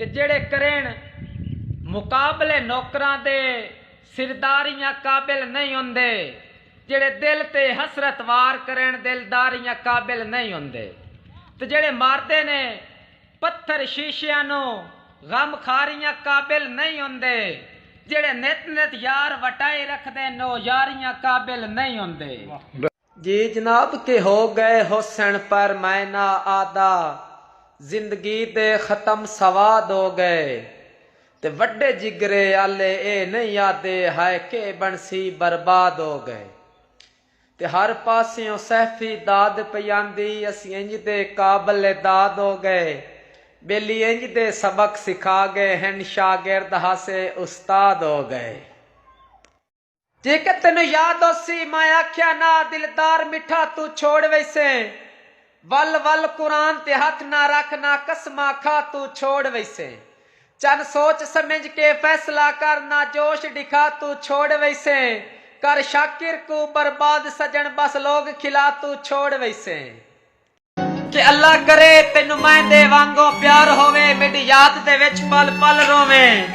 تے جیڑھے کرینڑ مقابلے نوکراں دے سرداریاں قابل نئیں ہوندے جیڑھے دل تے حسرت وار کرینڑ دلداریاں قابل نئیں ہوندے تے جیڑھے ماردے نے پتھر شیشیاں نوں غم خاریاں قابل نئیں ہوندے جیڑھے نت نت یار وٹائی رکھدے نو یاریاں قابل نئیں ہوندے۔ جی جناب کے ہو گئے ہوسن پر میں نہ آدا زندگی دے ختم سوا دو گئے تے وڈے جگرے آلے اے نہیں آدے ہائے کے بنسی برباد ہو گئے تے ہر پاسیوں صحفی داد پئی آندی اسی انج دے قابل داد ہو گئے بیلی انج دے سبق سکھا گئے ہن شاگرد ہاسے استاد ہو گئے۔ جیکر تینوں یاد ہوسی میں آکھیا نا دلدار مٹھا توں چھوڑ ویسیں ول ول قرآن تے ہتھ نا رکھ نا قسماں کھا توں چھوڑ ویسیں چن سوچ سمجھ کے فیصلہ کر نا جوش ڈکھا توں چھوڑ ویسیں کر شاکر کوں برباد سجن بس لوگ کھلا توں چھوڑ ویسیں۔ کہ اللہ کرے تینوں میں دے وانگوں پیار ہووے میڈی یاد دے وچ پل پل روویں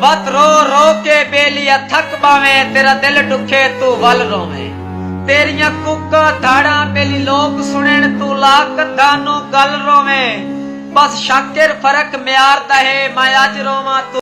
وت رو رو کے بیلی آ تھک باویں تیرا دل ڈکھے توں ول روویں تیریاں کوکاں دھاڑاں بیلی لوک سنن توں لا کدھاں نوں گل روویں بس شاکر فرق معیار دا ہے میں اج روواں توں